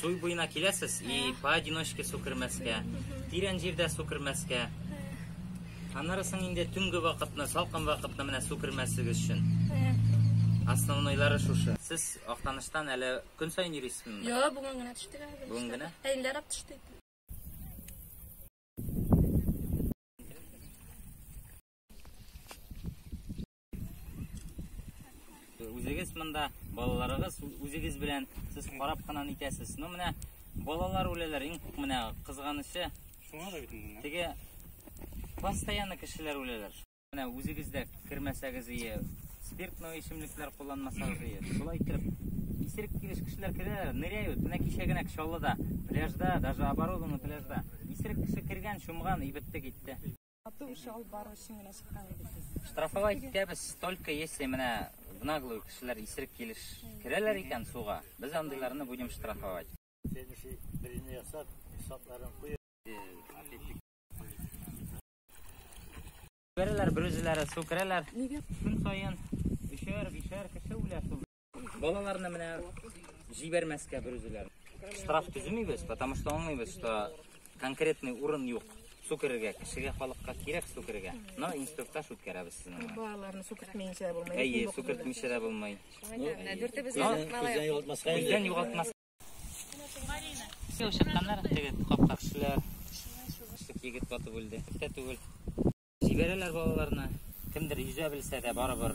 Суй буена киләсез и поодиночке су кермәскә, тирән җирдә су кермәскә. Аннары соң инде төнге вакытны, салкын вакытны менә су кермәсегез өчен. Основнойлары шушы. Сез Актаныштан әле көн саен йөрисезме? Юк, бүген генә төштек әле. Бүген генә? Әйләр ап төштек. Үзегез монда, балаларыгыз үзегез белән сез карап кына итәсез. Ну менә балалар үләләр, иң менә кызганычы. Шуңа да бит инде. Теге постоянно кешеләр үләләр. Менә үзегез дә кермәсәгез ие, спиртный эчемлекләр кулланмасагыз ие. Шулай итеп исерек килеш кешеләр керәләр, ныряют. Менә кичә генә Чаллыда, пляжда, даже оборудованный пляжда. Исерек кеше кергән, чумган, ибетте китте. Ату эше алып бару өчен генә чыккан идек без. Штрафовать итәбез только если менә в наглую кешеләр исерек килеш керәләр икән суга, без андыйларны будем штрафовать. Следующий беренче ясап, шатларын куеп. Берәләр берүзләре су керәләр. Нигә? Көн саен өчәр, бишәр кеше үлә су. Балаларны менә җибәрмәскә бер үзеләр. Штраф төземибез, потому что аңлыйбыз, что конкретный урын юк. Су керергә, кешегә, халыкка кирәк су керергә. Но инструктаж үткәрәбез сезнең. Балаларны су кертмәенчә булмый. Әйе, су кертмичә дә булмый. Дүртебез Күздән югалтмаска. Күздән югалтмаска. Все, чыкканнар, теге капка кешеләр. Шик егет батып үлде. Тә түгел. Җибәрәләр балаларны. Кемдер йөзә белсә дә барыбер